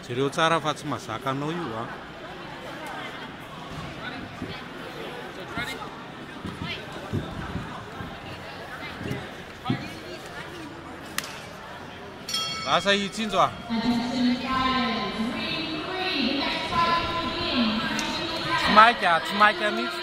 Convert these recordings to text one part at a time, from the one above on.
Jereo tsara fa tsy mazaka anao io a. Lasa i Tsinjo a. Tsy maika, tsy maika mihitsy.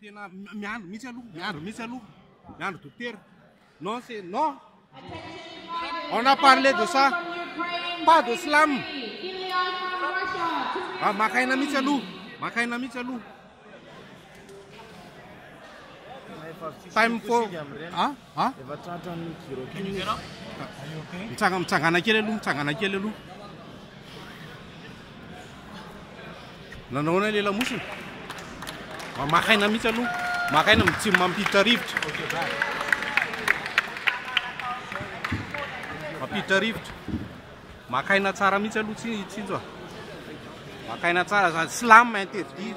Tena miandry mihitsy aloha, miandry mihitsy aloha, miandry dokotera. Non c'est non. On a parlé de ça. Pas de slam. Ah, makaina mihitsy aloha, makaina mihitsy aloha. Time for ah A? Efa tratra ny gyro kely izy. Mitsanga, mitsangana kely aloha, mitsangana kely aloha. Nanao ahoana ilay lamosina? Ma- Maka aina mihitsy aloha. Maka aina mitsy mampiditra rivotra. Mampiditra rivotra. Maka aina tsara mihitsy aloha tsy tsinjo a. Maka aina tsara, za- slam interdit.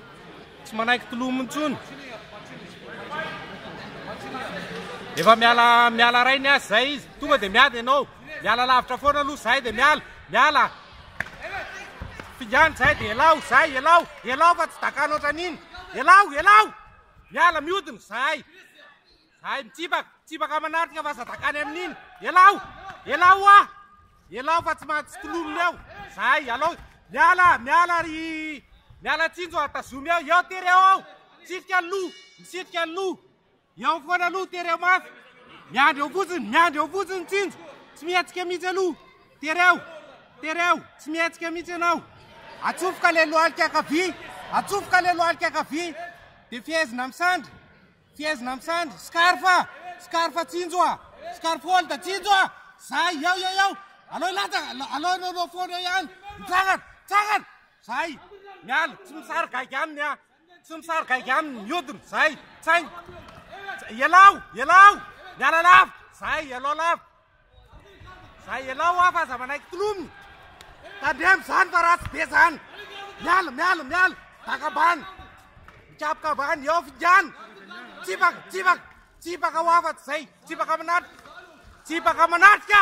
Tsy manaiky tolomo intsony. Efa miala miala ray ny azy zay izy. Tonga dia miady ianao. Miala lavitra foana aloha zay dia miala. Miala. Fingana zay dia elao zay elao. Elao fa tsy dakano ohatran'iny. Elao, elao. Miala miodina zay. Hay mitsipaka, mitsipaka manatrika fa zadakany amin'iny. Elao, elao oa, elao fa tsy mahatsy kilominy eo. Zay, alao, miala, miala ry, miala tsinjo atazomy eo. Eo tery eo ao, misitrika ny loha, misitrika ny loha. Eo foana loha, tery eo mafy. Miandry eo fotsiny, miandry eo fotsiny tsinjo. Tsy mihetsika mihitsy aloha. Tery eo, tery eo, tsy mihetsika mihitsy ianao. Atsofoka le lohalika akavia, atsofoka le lohalika akavia. Dia fehezina misandry. Fihezina am sandry, scarf a! Scarf a tsinjo a! Scarf hold a tsinjo a! Zay, yao yao yao! Aleo hilatsa, aleo anao no foana eo ihany! Mitsangana! Mitsangana! Zay! Miala! Tsy misary gaigy aminy a! Tsy misary gaigy aminy! Miodina! Zay! Tsainga! Ialao! Ialao! Miala lava! Zay! Ialao lava! Za elao aho fa za manaiky tolomina. Tandremo zany fa ratsy be zany. Miala, miala, miala. Baka ambany. Mikapoka ambany, eo fingana. Tsipaka, tsipaka, tsipaka ho afa zay. Tsipaka manatrika. Tsipaka manatrika.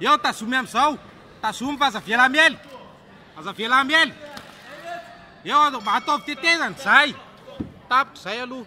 Eo tazomy amizao, tazomy fa aza avela miely, aza avela miely, eo ataovy tetezana zay, tapitra zay aloha.